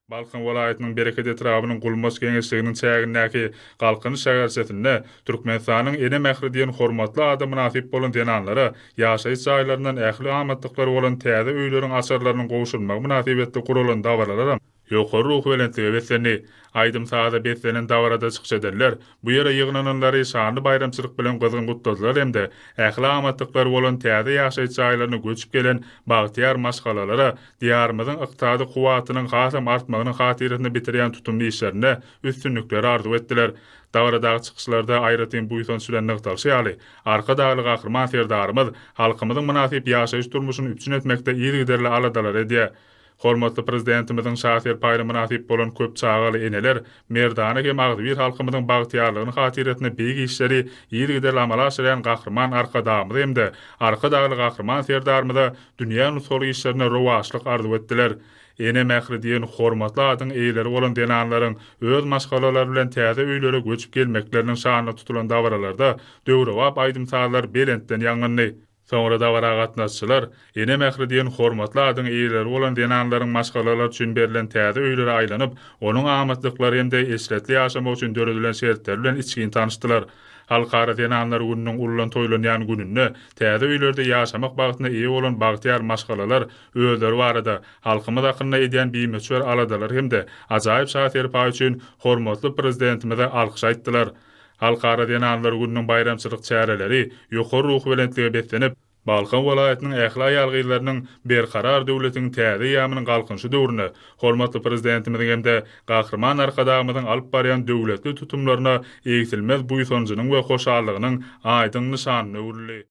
Balkan welaýatynyň Bereket etrabynyň Gulmaç geňeşliginiň çägindäki Galkynyş şäherçesinde Türkmenistanyň Ene mähri diýen hormatly ada mynasyp bolan zenanlara ýaşaýyş jaýlaryndan ähli amatlyklary bolan täze öýleriň açarlarynyň gowşurylmagy mynasybetli guralan dabaralaram ýokary ruhubelentlige beslendi. Aýdym-saza beslenen dabarada çykyş edenler bu ýere ýygnananlary şanly baýramçylyk bilen gyzgyn gutladylar hem-de ähli amatlyklary bolan täze ýaşaýyş jaýlaryna göçüp gelen bagtyýar maşgalalara Diýarymyzyň ykdysady kuwwatynyň hasam artmagynyň hatyrasyna bitirýän tutumly işlerinde üstünlikleri arzuw etdiler. Dabaradaky çykyşlarda aýratyn buýsanç bilen nygtalyşy ýaly, Arkadagly Gahryman Serdarymyz halkymyzyň mynasyp ýaşaýyş-durmuşyny üpjün etmekde yzygiderli aladalar edýär. Hormatly Prezidentimiziň şa serpaýyna mynasyp bolan köp çagaly eneler Merdana hem agzybir halkymyzyň bagtyýarlygyny hatyrasyna beýik işleri yzygiderli amala aşyrýan Gahryman Arkadagymyza hem-de Arkadagly Gahryman Serdarymyza dünýä nusgalyk işlerinde rowaçlyk arzuw etdiler. Ene mähri diýen hormatly adyň eýeleri bolan zenanlaryň öz maşgalalary bilen täze öýlere göçüp gelmekleriniň şanyna tutulan dabaralarda döwrebap aýdym-sazlar belentden ýaňlandy. Soňra dabara gatnaşyjylar Ene mähri diýen hormatly adyň eýeleri bolan zenanlaryň maşgalalar üçin berlen täze öýlere aýlanyp, onuň amatlyklary hem-de eşretli ýaşamak üçin döredilen şertleri bilen içgin tanyşdylar. Halkara zenanlar gününiň ullan toýlanýan gününde täze öýlerde ýaşamak bagtyna eýe bolan bagtyýar maşgalalar özleri barada, halkymyz hakynda edýän bimöçber aladalary hem-de ajaýyp şa-serpaýy üçin hormatly Prezidentimize alkyş aýtdylar. Halkara zenanlar gününiň baýramçylyk çäreleri ýokary ruhubelentlige beslenip, Balkan welaýatynyň ähli aýal-gyzlarynyň Berkarar döwletiň täze eýýamynyň Galkynyşy döwründe hormatly Prezidentimiziň hem-de Gahryman Arkadagymyzyň alyp barýan döwletli tutumlaryna egsilmez buýsanjynyň we hoşallygynyň aýdyň nyşanyna öwrüldi.